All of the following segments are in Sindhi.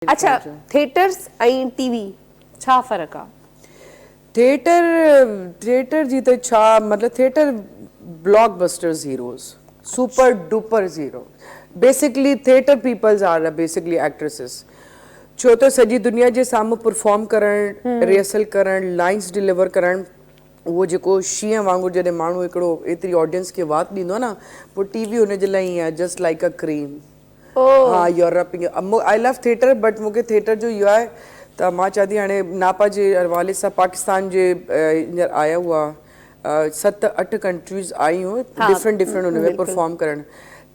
اڇا ٿيٽرس ۽ ٽي وي ڇا فرق آ. ٿيٽر ٿيٽر جي ته ڇا مطلب theatre blockbusters heroes super duper zero basically theatre peoples are uh basically actresses ڇو ته سڄي دنيا جي سامهون پرفارم ڪرڻ ريهرسل ڪرڻ لائنس ڊليور ڪرڻ اهو جيڪو شينهن وانگر جڏهن ماڻهو هڪڙو ايتري آڊينس کي وات ڏيندو آ نه پوء ٽي وي هن جي لاء ائين آ جسٽ لائڪ ا ڪرين. ها Europe ۾ I love theatre but مون کي ٿيٽر جو اهو آهي ته مان چوان ٿي هاڻي ناپا جي حوالي سان پاڪستان جي هينئر آيا هئا ست اٺ ڪنٽريز آيون ڊفرنٽ ڊفرنٽ هن ۾ پرفارم ڪرڻ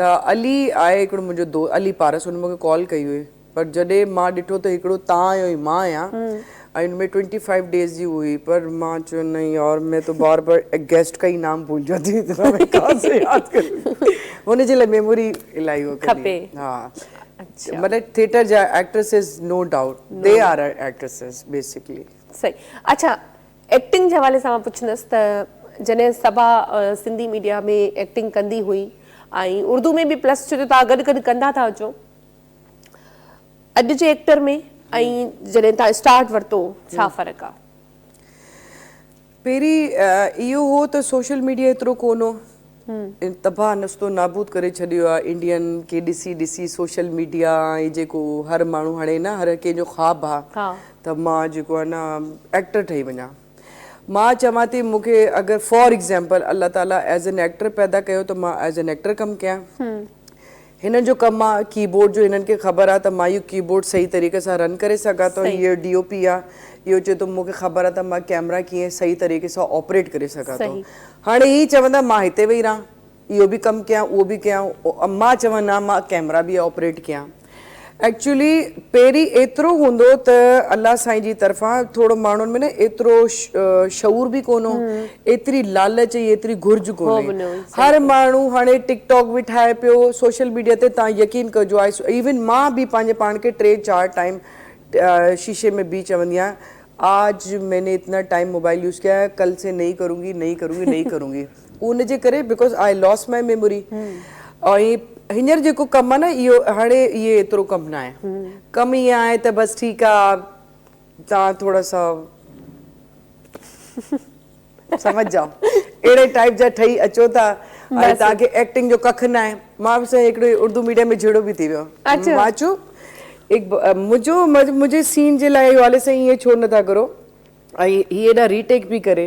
ته علي آهي هڪڙو منهنجو دوست علي پارس هن مون کي ڪال ڪئي هئي پر جڏهن مان ڏٺو ته هڪڙو تان آهيو مان آهيان ان ۾ ٽوئنٽي فائيو ڊيز جي هئي پر مان چيو نهين يار مين تو بار بار ايگزسٽ ڪئي نام ڀول جاندي اتنا مين ڪهان سي ياد ڪرون هن جي لاء ميموري الائي هو ڪرڻي کپي ها اچھا مطلب ٿيٽر جا actresses no doubt they are are actresses basically. صحيح اچھا ايڪٽنگ جي حوالي سان مان پڇندس ته جڏهن صبا سنڌي ميڊيا ۾ ايڪٽنگ ڪندي هئي ۽ اردو ۾ به پلس ڇو جو توهان گڏ گڏ ڪندا ٿا اچو اڄ جي ايڪٽر ۾ ۽ جڏهن تان اسٽارٽ ورتو ڇا فرق آ. پهرين اهو هو ته سوشل ميڊيا ايترو ڪون هو ان تباهه نستو نابود ڪري ڇڏيو آ انڊين کي ڏسي ڏسي سوشل ميڊيا ۽ جيڪو هر ماڻهو هاڻي نه هر ڪنهن جو خواب آ ته مان جيڪو آ نه ايڪٽر ٺهي وڃان مان چوان ٿي مون کي اگر فار ايڪزامپل الله تعالي ايز اين ايڪٽر پيدا ڪيو ته مان ايز اين ايڪٽر ڪم ڪيان هنن جو ڪم آ ڪيبورڊ جو هنن کي خبر آ ته مان اهو ڪيبورڊ صحيح طريقي سان رن ڪري سگهان ٿو هي ڊي او پي آ اهو چئي ٿو مون کي خبر آ ته مان ڪيمرا ڪيئن صحيح طريقي سان آپريٽ ڪري سگهان ٿو هاڻي هي چوندا مان هتي ويهي رهان اهو به ڪم ڪيان اهو به ڪيان مان چوان نه مان ڪيمرا به آپريٽ ڪيان. ايڪچوئلي پهرين ايترو هوندو ته الله سائين جي طرفان ٿورو ماڻهن ۾ نه ايترو شعور به ڪونه هو ايتري لالچ ۽ ايتري گهرج ڪونه هئي هر ماڻهو هاڻي ٽڪ ٽاڪ به ٺاهي پيو سوشل ميڊيا تي تان يقين ڪجو آء ايون مان به پنهنجي پاڻ کي ٽي چار ٽائيم شيشي ۾ بيهي چوندي آهيان آج مين اتنا ٽائيم موبائل يوز ڪيا ڪل سي نهي ڪرونگي نهي ڪرونگي نهي ڪرونگي. اهو ان جي ڪري because I lose my memory ۽ هينئر جيڪو ڪم آهي نه اهو هاڻي اهي ايترو ڪم نه آهي ڪم ائين آهي ته بس ٺيڪ آهي تان ٿورا سا سمجھ جاؤ اهڙي ٽائيپ جا ٺهي اچو ٿا ۽ تان کي ايڪٽنگ جو ڪک نه آهي مان به سائين هڪڙي اردو ميڊيم ۾ جهيڙو به ٿي ويو مان چيو منهنجو منهنجي سين جي لاء والد سائين ائين ڇو نه ٿا ڪرو ۽ هي هيڏا ري ٽيڪ پي ڪري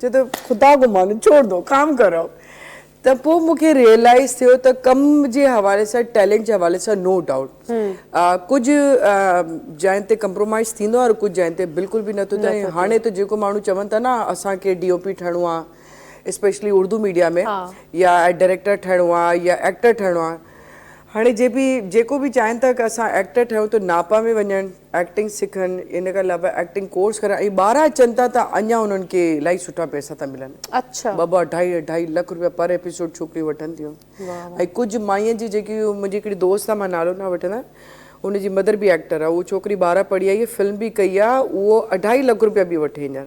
چيو ته خدا ڪو مانو ڇوڙ دو ڪام ڪرو ته پوء مون کي ريئلائز ٿيو ته ڪم جي حوالي سان ٽيلنٽ جي حوالي سان نو ڊائوٽ ڪجهه جاين تي ڪمپرومائز ٿيندو آهي ڪجهه جاين تي بلڪل به نٿو ٿئي هاڻي ته جيڪو ماڻهو چون ٿا نه اسان کي ڊي او پي ٺهڻو آهي اسپيشلي اردو ميڊيا ۾ يا ڊائريڪٽر ٺهڻو آهي يا ايڪٽر ٺهڻو آهي هاڻي جي بي جيڪو به چاهين ٿا ڪه اسان ايڪٽر ٺهيون ته ناپا ۾ وڃن ايڪٽنگ سکن ان کان علاوه ايڪٽنگ ڪورس ڪرن ۽ ٻاهران اچن ٿا ته اڃان انهن کي الائي سٺا پئسا ٿا ملن اچھا ٻه ٻه اڍائي اڍائي لک روپيا پر ايپيسوڊ ڇوڪريون وٺن ٿيون واه واه ۽ ڪجھ مائين جي جيڪي منهنجي هڪڙي دوست آ مان نالو نه وٺندس ان جي مدر به ايڪٽر آ اهو ڇوڪري ٻاهران پڙهي آئي آ فلم به ڪئي آ اهو اڍائي لک روپيا به وٺي هينئر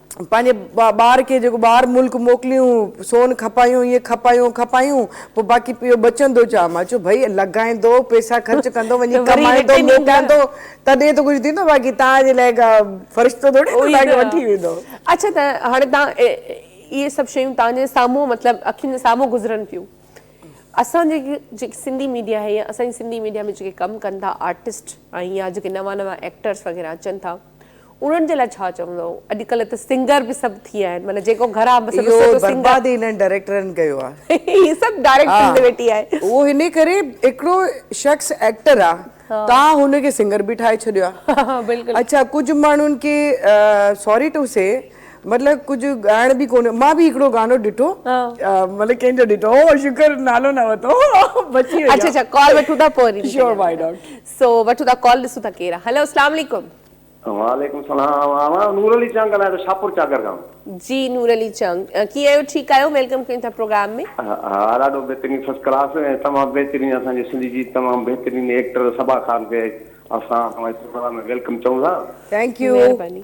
پنهنجي ٻار کي جيڪو ٻاهر ملڪ موڪليون، سون کپايون، هيء کپايون، کپايون، پوء باقي پيو بچندو ڇا؟ مان چيو ڀئي لڳائيندو، پئسا خرچ ڪندو، وڃي ڪمائيندو، موڪليندو، تڏهن ته ڪجهه ٿيندو، باقي توهان جي لاء ڪا فرشتو ٿورڙي ته توهان کي وٺي ويندو. اڇا ته هاڻي توهان اهي سڀ شيون توهان جي سامهون مطلب اکين جي سامهون گذرن ٿيون. اسان جي جيڪي سنڌي ميڊيا آهي يا اسان جي سنڌي ميڊيا ۾ جيڪي ڪم ڪن ٿا آرٽسٽ ۽ يا جيڪي نوان نوان ايڪٽرس وغيره اچن ٿا، انهن جي لاء ڇا چوندؤ اڄڪلهه ته سنگر به سڀ ٿي ويا آهن معنيٰ جيڪو گهر آ بس اهو برباد ئي انهن ڊائريڪٽرن ڪيو آ هي سڀ ڊائريڪٽ ٿيندي ويٺي آهي. اهو هني ڪري هڪڙو شخص ايڪٽر آ تان هن کي سنگر به ٺاهي ڇڏيو آ اڇا ڪجهه ماڻهن کي سوري ٽو سي مطلب ڪجهه ڳائڻ به ڪونه مان به هڪڙو گانو ڏٺو مطلب ڪنهن جو ڏٺو هو شڪر نالو نه ورتو بچي وئي آ اڇا اڇا ڪال وٺون ٿا پوء وري شيور وائي ناٽ سو وٺو ٿا ڪال ڏسون ٿا ڪير آ هلو اسلام عليڪم. وعليڪم سلام آئون نور علي چنگ ڳالهايان ٿو شاهپور چاڪر کان. جي نور علي چنگ ڪيئن آهيو ٺيڪ آهيو ويلڪم ڪيون ٿا پروگرام ۾. ها ڏاڍو بهترين فسٽ ڪلاس ۽ تمام بهترين اسان جي سنڌ جي تمام بهترين ايڪٽر صبا خان کي اسان پروگرام ۾ ويلڪم چئون ٿا. Thank you. مهرباني.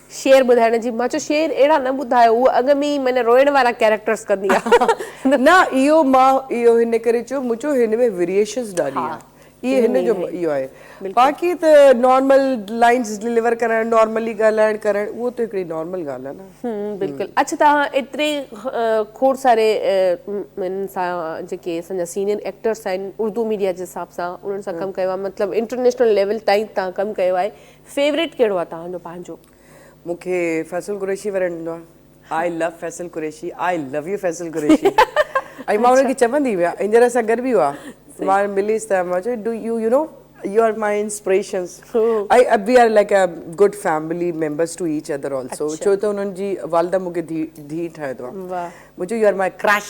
شعر ٻڌائڻ جي مان چيو شعر اهڙا نه ٻڌايو هوء اڳ ۾ ئي معنيٰ روئڻ وارا ڪيريڪٽرز ڪندي آهي. نه اهو مان اهو هن ڪري چيو مون چيو هن ۾ ويريئيشنز ڏاڍي آهن اهي هن جو اهو آهي باقي ته نارمل لائنز ڊليور ڪرڻ نارملي ڳالهائڻ ڪرڻ اهو ته هڪڙي نارمل ڳالهه آهي نه. هم بلڪل اڇ توهان ايتري کوڙ ساري ان سان جيڪي اسان جا سينئر ايڪٽرز آهن اردو ميڊيا جي حساب سان انهن سان ڪم ڪيو آهي مطلب انٽرنيشنل ليول تائين تان ڪم ڪيو آهي فيوريٽ ڪهڙو آ توهان جو پنهنجو. مون کي فيصل قريشي وڻندو آ I love Faisal Qureshi I love you Faisal Qureshi ۽ مان انهن کي چوندي هئي هينئر اسان گڏ به هئا مان مليس ته مان چيو do you you know you are my inspirations ۽ uh we are like a good family members to each other also ڇو ته انهن جي والده مون کي ڌي ٺاهيو اٿو مون چيو يو آر ماء ڪرش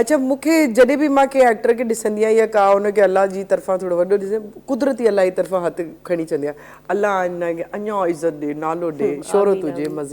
اچا مون کي جڏهن به مان ڪنهن ايڪٽر کي ڏسندي آهيان يا ڪا ان کي الله جي طرفان ٿورو وڏو ڏسندي آهيان قدرتي الله جي طرفان هٿ کڻي چوندي آهيان الله هن کي اڃان عزت ڏي نالو ڏي شهرت هجي مزيد.